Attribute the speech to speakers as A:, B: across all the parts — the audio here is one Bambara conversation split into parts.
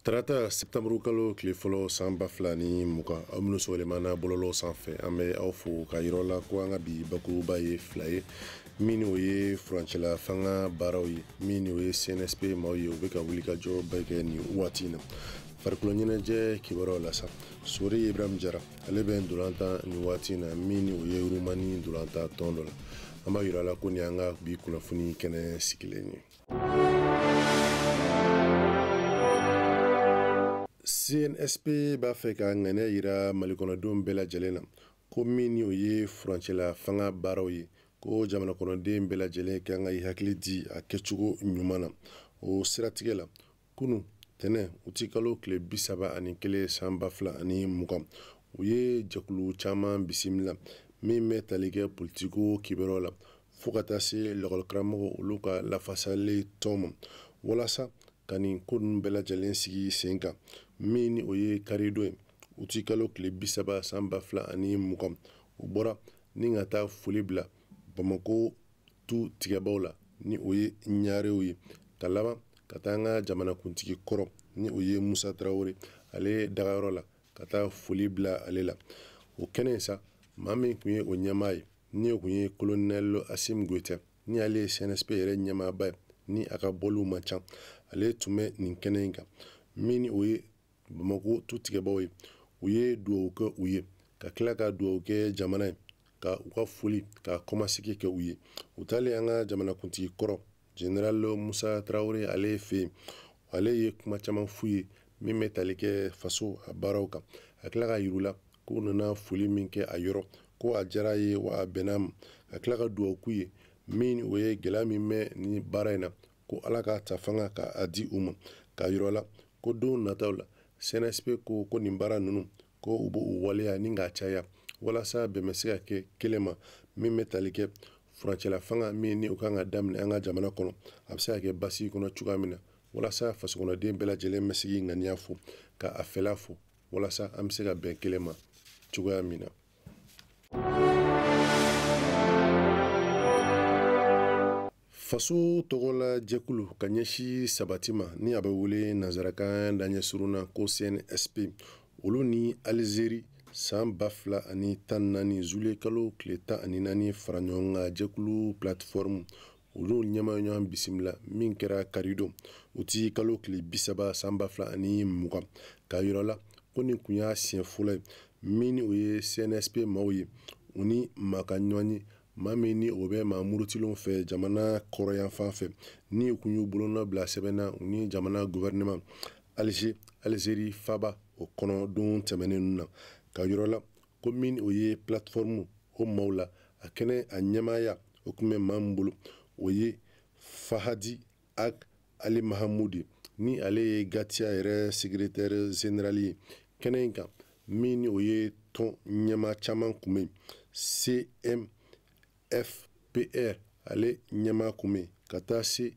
A: tarata septanburu kalo tile fɔlɔ san ba fila ni mugan aw minnu sɔgɔlen b'an na bɔlɔlɔ sanfɛ an bɛ aw fo k'a yir'aw la ko an ka bi bakuruba ye fila ye min ni o ye furancɛla fanga baaraw ye min ni o ye cnsp maaw ye u bɛ ka wulikajɔ bɛɛ kɛ nin waati in na farikolo ɲɛnajɛ kibaruyaw la sa sori ibrahim jara ale bɛ ntolantan nin waati in na min ni o ye rumani ntolantan tɔn dɔ la an b'a yir'aw la ko nin y'an ka bi kunnafoni kɛnɛ sigilen ye cnsp b'a fɛ ka ŋaniya yira malikɔnɔdenw bɛɛ lajɛlen na ko min ni o ye furancɛla fanga baaraw ye ko jamana kɔnɔden bɛɛ lajɛlen kan ka i hakili di a kɛcogo ɲuman na o siratigɛ la kunu tɛnɛn uti kalo tile bi saba ani kelen san ba fila ani mugan u ye jɛkulu caman bisimila min bɛ tali kɛ politiko kibaruyaw la fo ka taa se lakɔlikaramɔgɔ olu ka lafasali tɔn ma walasa ka nin ko ninnu bɛɛ lajɛlen sigi sen kan min ni o ye karidon ye uti kalo tile bi saba san ba fila ani mugan u bɔra ni ka taa foli bila bamako tu tigɛbaaw la ni o ye ɲarew ye ka laban ka taa an ka jamanakuntigi kɔrɔ ni o ye musa tarawele ale dagayɔrɔ la ka taa foli bila ale la o kɛnɛ sa maa min tun ye o ɲɛmaa ye ni o tun ye kolonɛl asim goyita ni ale ye cnsp yɛrɛ ɲɛmaaba ye ni a ka bɔliw man ca ale tun bɛ nin kɛnɛ in kan min o ye bamakɔ tu tigɛbaaw ye u ye dugawu kɛ u ye ka tila ka dugawu kɛ jamana ye ka u ka foli ka kɔmasegin kɛ u ye u taalen an ka jamanakuntigi kɔrɔ general musa tarawele ale fɛ yen ale ye kuma caman f'u ye min bɛ tali kɛ faso a baaraw kan ka tila k'a yir'u la k'u nana foli min kɛ a yɔrɔ ko a diyara a ye wa a bɛnna a ma ka tila ka dugawu k'u ye min ni o ye gɛlɛya min bɛ ni baara in na ko ala k'a ta fanga ka a di u ma k'a yir'u la ko don nataw la cnsp ko ko nin baara ninnu ko u b'u waleya ni k'a caya walasa bɛn bɛ se ka kɛ kelen ma min bɛ tali kɛ furancɛla fanga min ni o kan ka daminɛ an ka jamana kɔnɔ a bɛ se ka kɛ basigi kɔnɔ cogoya min na walasa fasokɔnɔden bɛɛ lajɛlen bɛ se k'i ŋaniya fɔ ka a fɛla fɔ walasa an bɛ se ka bɛn kelen ma cogoya min na faso tɔgɔla jɛkulu ka ɲɛsin sabati ma ni a bɛ wele nanzarakan daɲɛ surun na ko cnsp olu ni alizeri san ba fila ani tan naani zuliye kalo tile tan ani naani fara ɲɔgɔn kan jɛkulu plateforme olu ɲɛmaa ɲɔgɔn bisimila min kɛra karidon uti kalo tile bisaba san ba fila ani mugan k'a yir'aw la ko nin kun y'a siɲɛ fɔlɔ ye min o ye cnsp maaw ye u ni maa ka ɲɔgɔn ye maa min ni o bɛ maa murutilenw fɛ jamana kɔrɔyanfan fɛ ni u kun y'u bolonɔ bila sɛbɛn na u ni jamana guvɛrɛnɛman alize alizeri faba o kɔnɔ don tɛmɛnen ninnu na k'a yir'aw la ko min o ye platformu o maaw la a kɛnɛ a ɲɛmaaya o kun bɛ maa min bolo o ye fahadi ag ali mahamudi ni ale ye gatiya yɛrɛ sekiretɛri zenerali ye kɛnɛ in kan min ni o ye tɔn ɲɛmaa caman kun bɛ cmfpr ale ɲɛmaa kun bɛ ka taa se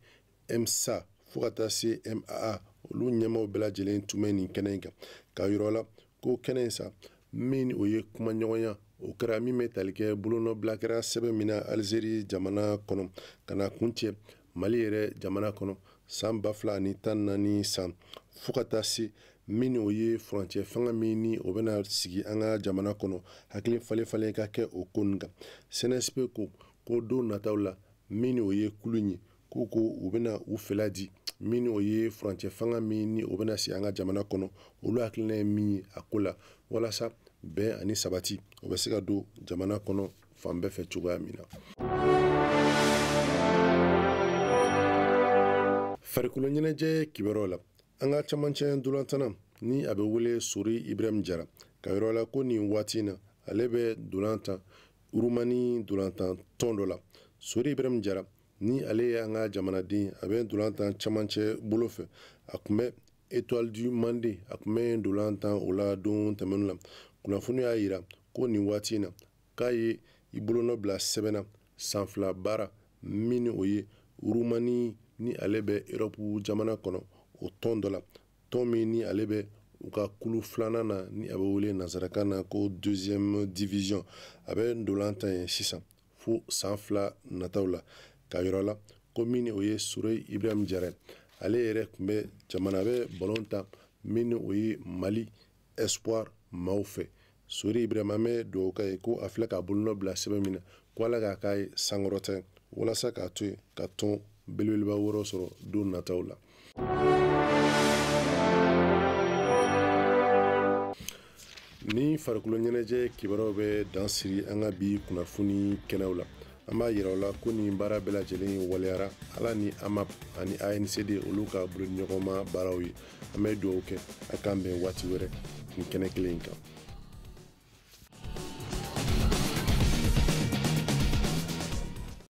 A: msa fo ka taa se maa olu ɲɛmaaw bɛɛ lajɛlen tun bɛ nin kɛnɛ in kan k'a yir'aw la ko kɛnɛ in sa min o ye kumaɲɔgɔnya o kɛra min bɛ tali kɛ bolonɔbila kɛra sɛbɛn min na alizeri jamana kɔnɔ ka na kuncɛ mali yɛrɛ jamana kɔnɔ san ba fila ani tan naani san fo ka taa se min o ye furancɛ fanga min ni o bɛna sigi an ka jamana kɔnɔ hakili falen falen ka kɛ o ko nin kan cnsp ko ko don nataw la min o ye kulu ye k'u ko u bɛna u fɛla di min o ye furancɛ fanga min ni o bɛna sigi an ka jamana kɔnɔ olu hakilina ye min ye a ko la walasa bɛn ani sabati o bɛ se ka don jamana kɔnɔ fan bɛɛ fɛ cogoya min na farikolo ɲɛnajɛ kibaruyaw la an ka camancɛ ntolantanna ni a bɛ wele sori ibrahim jara k'a yir'aw la ko nin waati in na ale bɛ ntolantan rumani ntolantan tɔn dɔ la sori ibrahim jara ni ale ye an ka jamanaden a bɛ ntolantan camancɛ bolo fɛ a kun bɛ étoile du mande a kun bɛ ntolantan o la don tɛmɛnenw la kunnafoni y'a yira ko nin waati in na k'a ye i bolonɔ bila sɛbɛn na san fila baara min ni o ye rumani ni ale bɛ erɔpu jamana kɔnɔ o tɔn dɔ la tɔn min ni ale bɛ u ka kulu filanan na ni a bɛ wele nansarakan na ko deuxième division a bɛ ntolantan yen sisan fo san fila nataw la k'a yir'aw la ko min ni o ye sori ibrahim jara ale yɛrɛ kun bɛ jamana bɛ balon tan min ni o ye mali espoir maaw fɛ sori ibrahim an bɛ dugawu k'a ye ko a filɛ k'a bolonɔ bila sɛbɛn min na ko ala k'a k'a ye sankɔrɔta walasa k'a to yen ka tɔn belebeleba wɛrɛ sɔrɔ don nataw la ni farikolo ɲɛnajɛ kibaruyaw bɛ dan siri an ka bi kunnafoni kɛnɛw la an b'a yira aw la ko nin baara bɛɛ lajɛlen waleyara ala ni amap ani ancd olu ka bolodiɲɔgɔnma baaraw ye an bɛ dugawu kɛ a k'an bɛn waati wɛrɛ nin kɛnɛ kelen in kan